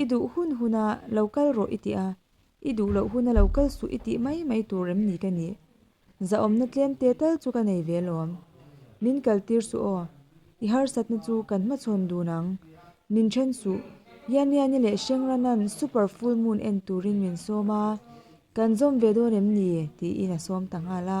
I duh hun hun a, lo kal rawh i ti a, i duh loh hun a lo kal suh i tih mai mai tur em ni ka nih? Zahawmna tlem te tal chu ka nei ve lawm. Min kaltir suh aw, i harsatna chu kan hmachhawn dun ang. Min then suh. Yanyani leh Hrengrannan super full moon en turin min sawm a, kan zawm ve dawn em ni? tiin a sawm ta nghal a.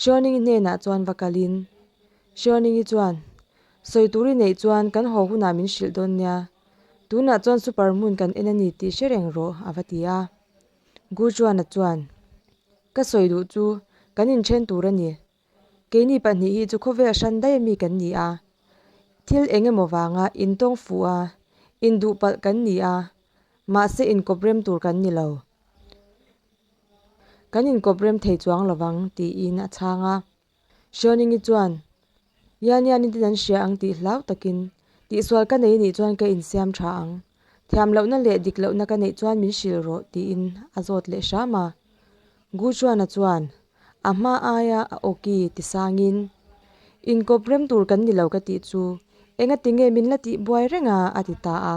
Hriauningii hnenah chuan va kalin, Hriauningii chuan, Sawi tur i neih chuan kan haw hunah min hrilh dawn nia, tunah chuan super hmun kan en a ni tih hre reng rawh, a va ti a. Guchuana chuan, Ka sawi duh chu kan inthen tur a ni, keini pahnih hi chu khawvel a hran daih mi kan ni a, thil eng emaw vanga in tawng fuh a, in duhpalh kan ni a, mahse inkawp rem tur kan ni lo. Kan inkawprem thei chuang lo vang, tiin a chhang a. Hriaoningi chuan, Yania ni ten an hria ang tih hlau takin, Tihsual ka nei nih chuan ka insiam tha ang. Thiam lohna leh dik lohna ka neih chuan min hrilh rawh, tiin a zawt leh hram a. Guchuana chuan, A hma aia a ok i, tisangin, Inkawprem tur kan ni lo ka tih chu, engatinge min la tih buai reng a, a ti ta a.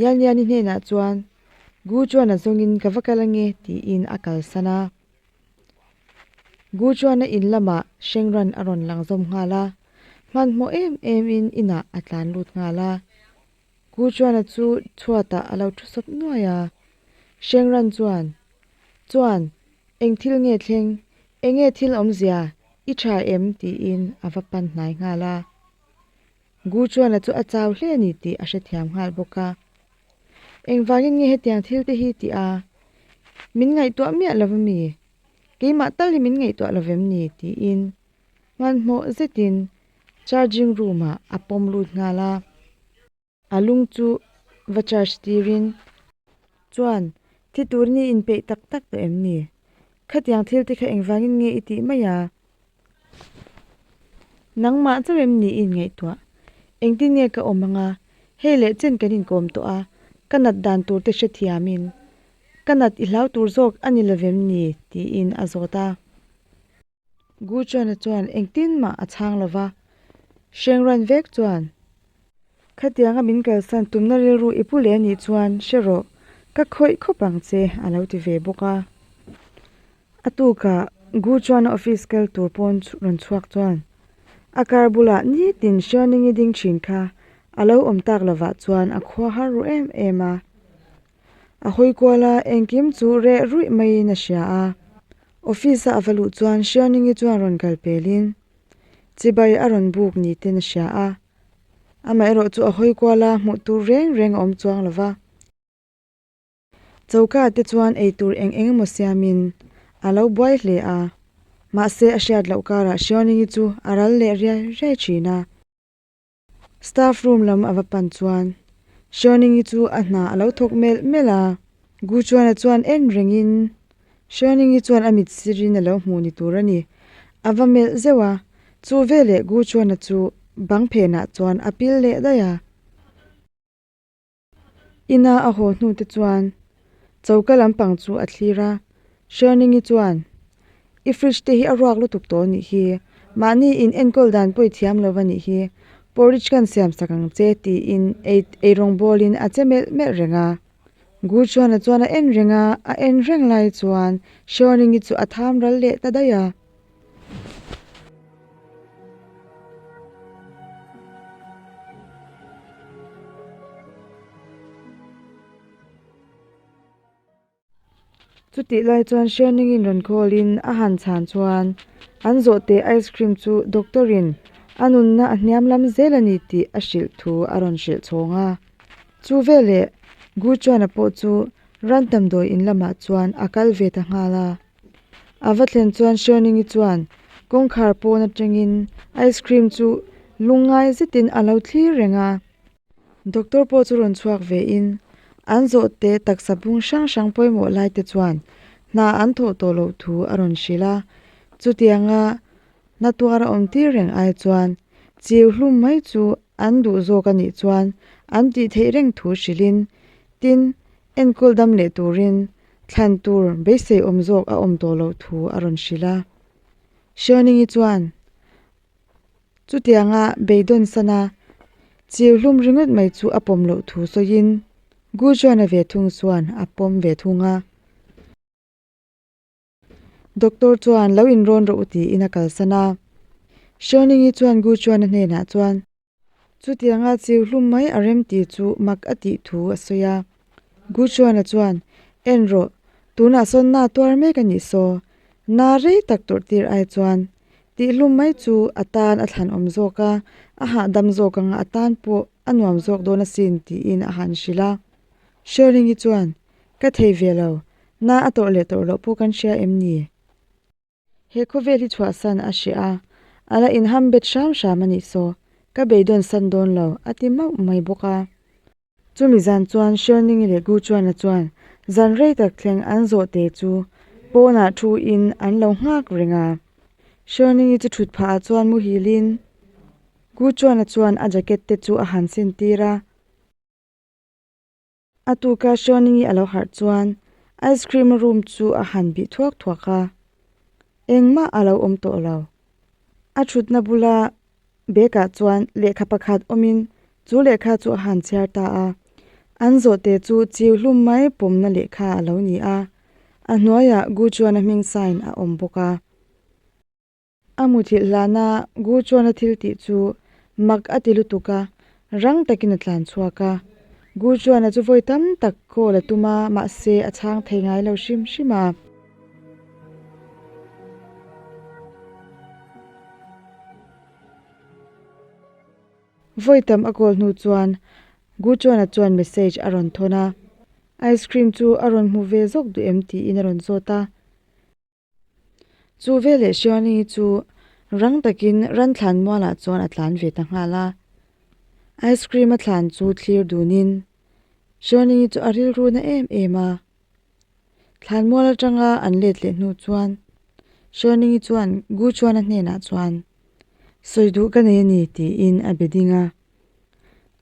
Yalniani hnenah chuan Gu Chuana zawngin ka va kal ange tiin a kalsan a. Gu Chuana in lamah Hrengran a rawn lang zawm nghal a, hmanhmawh em emin inah a tlan lut nghal a. Gu Chuana chu chhuatah a lo thu sawp nuai a. Hrengran chuan, Chuan, eng thil nge thleng? Enge thil awmzia? I tha em? tiin a va pan hnai nghal a. Gu Chuana chu a chau hle a ni tih a hrethiam nghal bawk a, engvangin nge hetiang thil te hi tih a, min ngaihtuah miah lo va mi? Keimah tal hi min ngaihtuah lo vem ni? tiin hmanhmawh zetin charging room ah a pawm lut nghal a, a lung chu va charge tirin. Chuan, Thi tur ni inpeih tak tak tawh em ni? Khatiang thil te kha engvangin nge i tih mai a? Nangmah chauh em ni in ngaihtuah. Engtin nge ka awm anga, hei leh chen kan inkawm tawh a, ka nat dan tur te hrethiam in, ka nat i hlau tur zawk a ni lovem ni? tiin a zawt a. Gu Chuana chuan engtin mah a chhang lova, hreng ruan vek chuan Khatianga min kalsan tumna rilru i pu leh nih chuan hre rawh ka khawih khawp ang che a lo ti ve bawk a. A tuka Gu Chuana office kal tur pawn rawn chhuak chuan a kar bulah nitin Hrianing i ding thin kha a lo awm tak lovah chuan a khua har ru em em a. A hawi kual a engkim chu reh ruih maiin a hria a. Office a a va luh chuan Hrianing i chuan rawn kal pelin Chibai a rawn buk ni ten a hria a, amaherawh chu a hawi kual a, hmuh tur reng reng a awm chuang lo va. Choka te chuan eitur eng eng emaw siamin a lo buai hle a, mahse a hriat loh karah Hriaoningi chu a ral leh riai riai thin a. Staff room lam a va pan chuan Hriaunengi chu a hna a lo thawk melh melh a. Gu Chuana chuan en rengin, Hriaunengi chuan a mit sirin a lo hmuh ni tur a ni. A va melh zeuh a, chu veleh Gu Chuana chu bang phenah chuan a pil leh daih a. Ina a haw hnute chuan choka lampang chu a thlir a, Sherningi chuan, I fridge te hi a ruak lutuk tawh a nih hi, mahni in enkawl dan pawh i thiam lo a nih hi, porridge khan siam sak ang che, tiin ei ei rawngbawlin a che melh melh reng a. Guchuana chuan a en reng a, a en reng lai chuan Sherningi chu a tham ral leh ta daih a. Chutih lai chuan Hriamningin rawn call in a han chhan chuan an zawh teh ice cream chu doctor in a nunna a hniam lam zel a ni tih a hrilh thu a rawn hrilh chhawng a, chu veleh Gu Chuana pawh chu Rantham dawiin lamah chuan a kal ve ta nghal a. A va thlen chuan Hrianingi chuan kawngkhar pawn atangin ice cream chu lung ngai zetin a lo thlir reng a. Doctor pawh chu rawn chhuak ve in an zawhte taksa bung hrang hrang pawimawh lai te chuan hna an thawh tawh loh thu a rawn hrilh a. Chutianga hnatua awm tir reng ai chuan chiu hlum mai chu an duh zawk a nih chuan an tih theih reng thu hrilhin tin enkawl dam leh turin Thlan tur beisei awm zawk a awm tawh loh thu a rawn hrilh a. Hriauningyi chuan, Chutianga beidawn sana chiu hlum ringawt mai chu a pawm loh thu sawiin Gujuana ve thung chuan a pawm ve thung a. Doctor chuan lo inrawn rawh u tiin a kalsan a. Hriauningyi chuan Gujuana hnenah chuan. Chutianga chiu hlum mai a rem tih chu mak a tih thu a sawi a. Gu Chuana chuan, En rawh, tunah sawn na tuar mek a nih saw, na rei tak tawrh tir ai chuan, tih hlum mai chu a tan a thlan awm zawk a, a hahdam zawk anga a tan pawh a nuam zawk dawn a sin tiin a han hrilh a. Hrialhingi chuan, Ka thei ve lo, na a tawrh leh tawrh loh pawh kan hria em ni? He khawvel hi chhuah san a hria a, a la inham bet hram hram a nih saw, ka beidawn san dawn lo, a ti mauh mai bawk a. Chumi zan chuan Sherningi leh Guchuana chuan zan rei tak thleng an zawh te chu pawnah thu in an lo nghak reng a. Sherningi chu thut phah ah chuan muhil in Guchuana chuan a jacket te chu a han sin tir a. A tuka Suaning i a lo harh chuan ice cream a rum chu a han bih thuak thuak a, engmah a lo awm tawh lo. A thutna bula bag ah chuan lehkha pakhat awmin chu lehkha chu a han chhiar ta a, an zawhte chu chiu hlum mai pawmna lehkha a lo ni a, a hnuaiah Gu Chuana hming sign a awm bawk a. A muthilh hlana Guchuana thiltih chu mak a ti lutuk a, rang takin a tlan chhuak a. Guchuana chu vawi tam tak call a tum a, mahse a chhang thei ngai lo hrim hrim a. Vawi tam a call hnu chuan Guchuana chuan message a rawn thawn a, Ice cream chu a rawn hmu ve zawk duh em tiin a rawn zawt a. Chu veleh Shioni chu rang takin Ranthlan mualah chuan a tlan ve ta nghal a. Ice cream-a thlan chu thlir dunin Shioni chu a rilru na em em a. Thlan mual atanga an let leh hnu chuan Shioni chuan Guchuana hnenah chuan, Sawi duh ka nei a ni tiin a be ding a.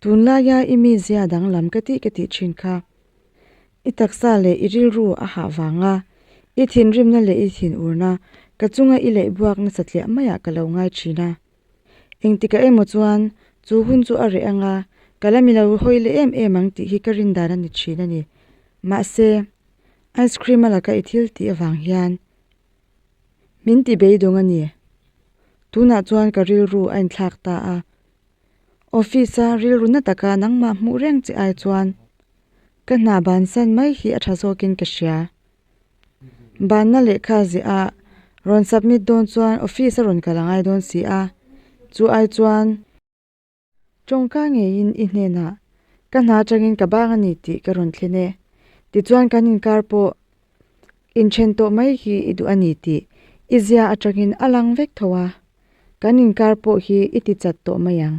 Tunlaia i mizia danglam ka tih ka tih thin kha. I taksa leh i rilru a hah vanga, i thinrimna leh i thinurna ka chunga i leihbuak nasa tliah maiah ka lo ngai thin a. Engtikah emaw chuan chu hun chu a reh anga ka la milo hawi leh em em ang tih hi ka rindan a ni thin a ni. Mahse, ice cream a laka i thil tih avang hian min ti beidawng a ni. Tunah chuan ka rilru a inthlak ta a. Office a rilruna taka nangma hmuh reng che ai chuan Ka hna ban san mai hi a tha zawkin ka hria. Banna lehkha ziah a rawn submit dawn chuan office a rawn kal a ngai dawn si a, chu ai chuan. Tawngka ngeiin i hnenah ka hna atangin ka bang a ni tih ka rawn thlen e. Tichuan kan inkar pawh inthen tawh mai hi i duh a ni tih i zia atangin a lang vek tho a, kan inkar pawh hi i tichat tawh mai ang.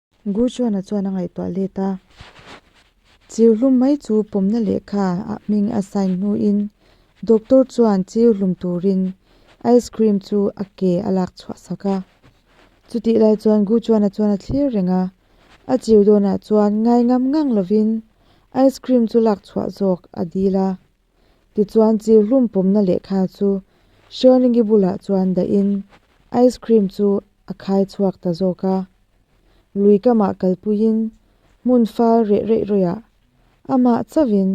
Guchuana chuan a ngaihtuah let a, Chiu hlum mai chu pawmna lehkha ah hming a sign hnu in doctor chuan chiu hlum turin ice cream chu a ke a lak chhuah sak a. Chutih lai chuan Guchuana chuan a thlir reng a, a chiu dawnah chuan ngai ngam ngang lovin ice cream chu lak chhuah zawk a dil a. Tichuan chi hlum pawmna lehkha chu Sherlingi bulah chuan dahin ice cream chu a khai chhuak ta zawk a. Lui kamah kalpuiin hmun fal reh reih reuhah a mah chavin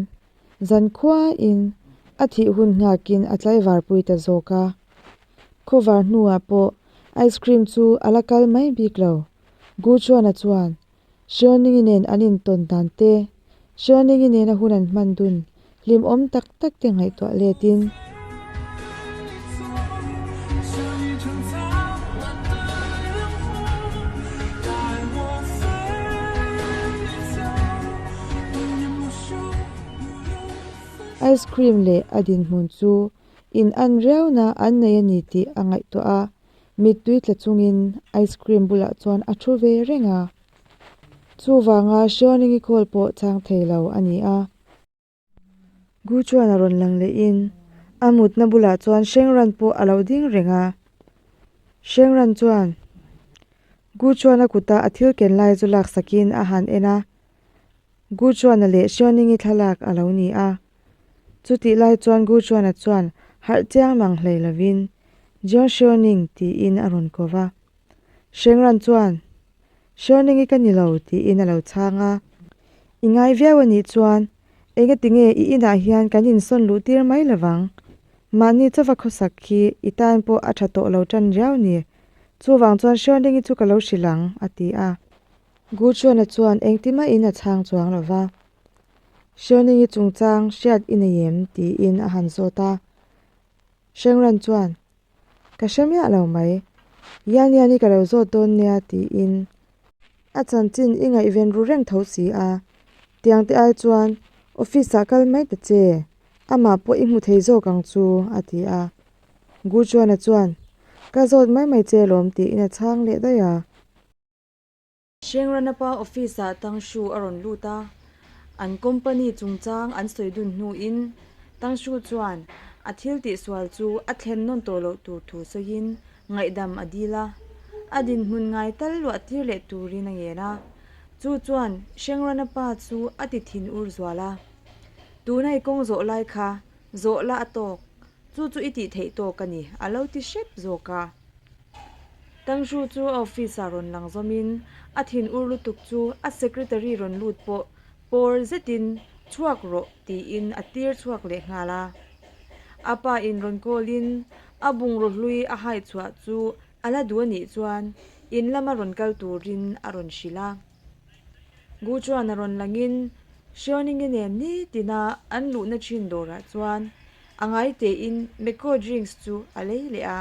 zan khuain a thih hun nghakin a tlaivar pui ta zawk a. Khawvar hnuah pawh ice cream chu a la kal mai bik lo. Guchuana chuan Hriawningin nen an intawn dan te, Hriawningin nena hun an hman dun, hlim awm tak tak te ngaihtuah letin. Ice cream leh a dinhmun chu in an riauna an nei a ni tih a ngaihtuah a, mittui tla chungin ice cream bulah chuan a thu ve reng a, chuvanga Hriaunengi call pawh chang thei lo a ni a. Gu chuan a rawn lang lehin a mutna bulah chuan Hrengran pawh a lo ding reng a. Hrengran chuan Gu chuana kuta a thil ken lai chu laksakin a han en a, Gu chuana leh Hriaunengi thlalak a lo ni a. Chutih lai chuan Gu Chuana chuan harh chiang nang hlei lovin, Jiang Xuening tiin a rawn ko va. Shengran chuan, Xuening i ka ni lo tiin a lo chhang a. I ngai viau a nih chuan, engatinge i inah hian kan insawn luh tir mai lovang? Mahni chauva khawsak khi i tan pawh a tha tawh lo tan riau ni. Chuvang chuan Xuening i chu ka lo hrilh ang, a ti a. Gu Chuana chuan engtimahin a chhang chuang lova. Hrianing i chungchang hriat i nei em? tiin a han zawt a. Hrengran chuan, Ka hre miah lo mai. Yanya ni ka lo zawt dawn nia, tiin a chanchin i ngaihven ru reng tho si a. Tiang te ai chuan, Office ah kal mai ta che, amah pawh i hmu thei zawk ang chu, a ti a. Guchuana chuan, Ka zawt mai mai che lawm, tiin a chhang leh daih a. Shengranapa office ah Tangshu a rawn lut a, an company chungchang an sawi dun hnu in Tangshu chuan a thil tih sual chu a thlen nawn tawh loh tur thu sawi in ngaihdam a dil a, a dinhmun ngai tal luah tir leh tur in a ngen a, chu chuan Shengranapa chu a ti thin ur zual a, Tuna i kawng zawh lai kha zawh la a tawk, chu chu i tih theih tawk a ni, a lo ti hrep zawk a. Tangzhu chu office ah rawn lang zawmin a thin ur lutuk chu a secretary rawn lut pawh pawr zetin chhuak rawh tiin a tir chhuak leh nghal a. A pa in rawn call in a bungraw hlui a hai chhuah chu a la duh anih chuan in lama rawn kal turin a rawn hrilh a. Gu chuan a rawn lang in Hriauni nge nem ni tina an luhna thin dawrah chuan a ngai tein Mekko drinks chu a lei leh a.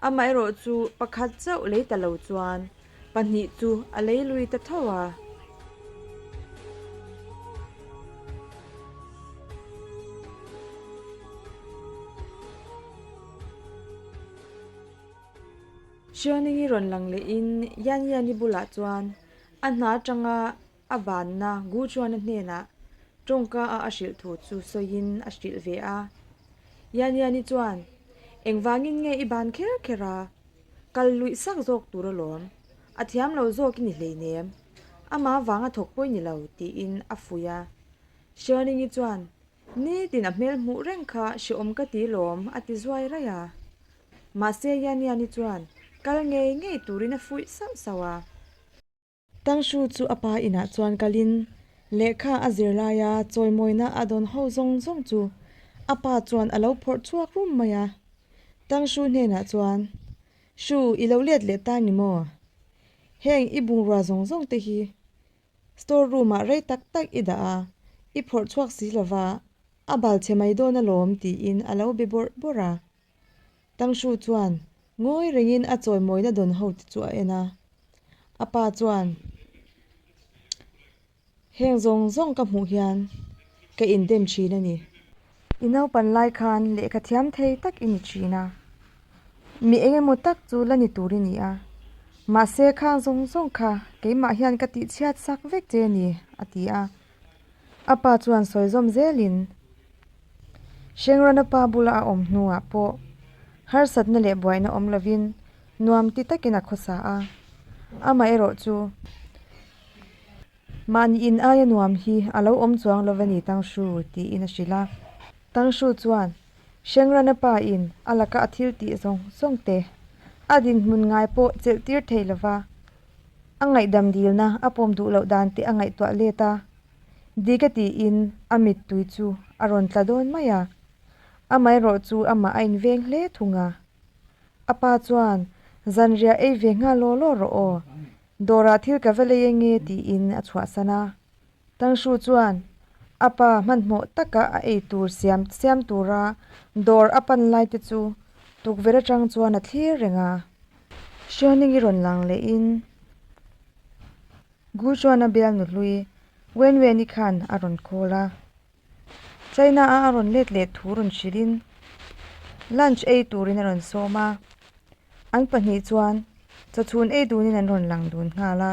Amaherawh chu pakhat chauh lei ta lo chuan pahnih chu a lei lui ta tho a. Hriangningi rawn lang lehin Yanyani bulah chuan a hna tanga A vanna, Gu Chuana hnenah tawngkaa a hrilh thu chu sawiin a hrilh ve a. Yanyani chuan, Engvangin nge i ban kher kher a? Kal luih sak zawk tur a lawm. A thiam lo zawk i ni hleinem. Ama vanga thawk pawh i ni lo, tiin a fuih a. Sherningi chuan, Nitin a hmel hmuh reng kha hrehawm ka ti lawm, a ti zuai raih a. Mahse Yanyani chuan kal ngei ngei turin a fuih sauh sauh a. Tang Shu chu a pa inah chuan kal in lehkha a zir lai a, chawimawina a dawn ho zawng zawng chu a pa chuan a lo phawrh chhuak rum mai a. Tang Shu hnenah chuan, Shu, i lo let leh ta ni maw? Heng i bungrua zawng zawng te hi store room ah rei tak tak i dah a, i phawrh chhuak si lova, a bal che mai dawn alawm, tiin a lo be bawrh bawrh a. Tangshu chuan ngawi rengin a chawimawina dawn ho te chu a en a. A pa chuan, Heng zawng zawng ka hmuh hian ka indem thin a ni. I naupan lai khan lehkha thiam thei tak i ni thin a, mi eng emaw tak chu la ni tur i ni a, mahse khang zawng zawng kha keimah hian ka tih chhiat sak vek che a ni, a ti a. A pa chuan sawizawm zelin Hrengrana pa bula a awm hnuah pawh harsatna leh buaina awm lovin nuam ti takin a khaw sa a. Amaherawh chu, mahni in aia nuam hi a lo awm chuang lova ni Tangshu, tiin a hrilh a. Tangshu chuan Hrengrana pa in a laka a thil tih zawng zawngte a dinhmun ngai pawh chelh tir theih lova A ngaihdam dilna a pawm duh loh dan teh a ngaihtuah let a, Dika tiin a mittui chu a rawn tla dawn mai a. Amaherawh chu amah a inveng hle thung a. A pa chuan, Zanriah ei ve nghal law law rawh aw, dawrah thil ka va lei enge tiin a chhuahsan a. Tangshu chuan a pa hmanhmawh taka a ei tur siam siam tura dawr a pan lai te chu tukverh atang chuan a thlir reng a. Hrianing i rawn lang leh in Gu chuan a bial nu hlui Wen Wen i khan a rawn call a. China a a rawn let leh thu rawn hrilh in lunch ei tur in a rawn sawm a. An pahnih chuan chawchhun ei dun in an rawn lang dun nghal a.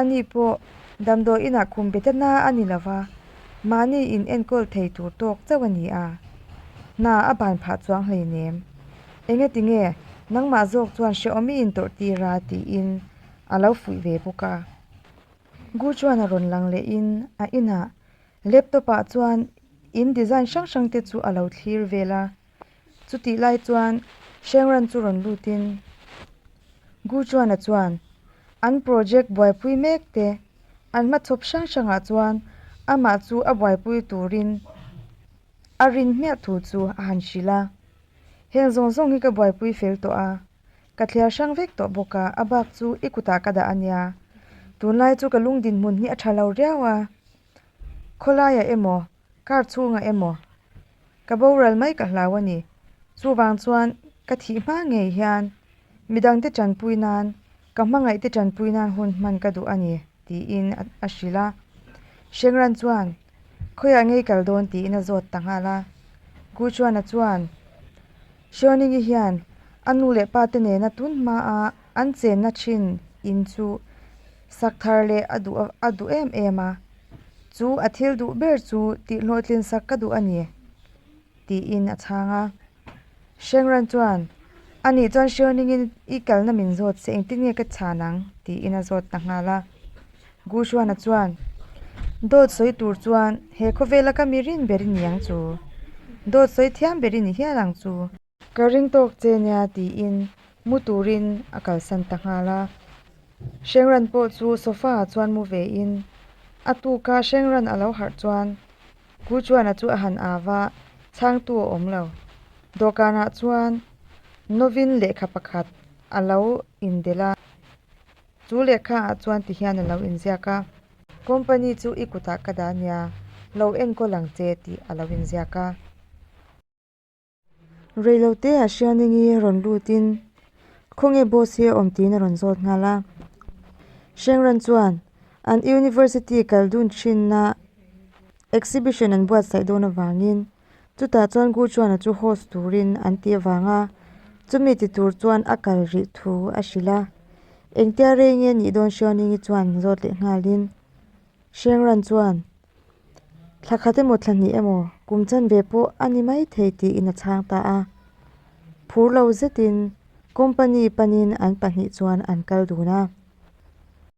Ani pawh damdawi inah khum beta hna a ni lova, mahni in enkawl thei tur tawk chauh a ni a, hna a ban phah chuang hleinem. Enge ti nge, nangmah zawk chuan Hreawmi in tawrh tir a tiin a lo fuih ve bawk a. Gu chuan a rawn lang leh in a inah laptop ah chuan in design hrang hrang te chu a lo thlir vel a. Chutih lai chuan Shengran chu rawn lutin Guchuana chuan an project buaipui mek te an hma chhawp hrang hrangah chuan amah chu a buaipui turin a rin hmiah thu chu a han hrilh a, Heng zawng zawng hi ka buaipui fel tawh a, ka thliar hrang vek tawh bawk a, a bak chu i kutah ka dah a nia. Tunlai chu ka lung dinhmun hi a tha lo riau a, khawlaia emaw Car chhungah emaw, ka boral mai ka hlau a ni. Chuvang chuan ka thih hma ngei hian midangte tanpui nan, ka hmangaihte tanpui nan hun hman ka duh a ni, tiin a hrilh a. Shengran chuan, Khawiah ngei kal dawn, tiin a zawt ta nghal a. Guchuana chuan, Hriawnini hian a nu leh pa te nena tun hmaa an chenna thin in chu sak thar leh a duh a duh em em a, chu a thil duh ber chu tihhlawhtlin sak ka duh a ni, tiin a chhang a. Hrengran chuan, A nih chuan Hriawningin i kalna min zawt se engtin nge ka chhan ang? tiin a zawt ta nghal a. Guhruana chuan dawt sawi tur chuan he khawvela ka mi rin ber i ni ang chu, dawt sawi thiam ber i ni hial ang chu. Ka ring tawk che nia tiin mu turin a kalsan ta nghal a. Hrengran pawh chu sofa ah chuan mu ve in a tuka Hrengran a lo harh chuan Guhruana chu a han av a, chhangtu a awm lo. Dawhkan ah chuan Novin lehkha pakhat a lo inbel a. Chu lehkha ah chuan ti hian a lo inziak a, Company chu i kutah ka dah nia, lo enkawl ang che tih a lo inziak a. Reilote ah Hrianing i rawn lut in khawnge boss hi a awm tiin a rawn zawt nghal a. Hrengran chuan an University kal dun thin na Exhibition an buatsaih dawn avangin chutah chuan Gu Chuana chu host turin an tih avang a, chumi ti tur chuan a kal rih thu a hrilh a. Engtia rei nge nih dawn Xiaoningi chuan zawt leh nghalin Hreng Ran chuan thla khat emaw thla hnih emaw kum chan ve pawh a ni mai thei tiin a chhang ta a. Phur lo zetin company panin an pahnih chuan an kal dun a.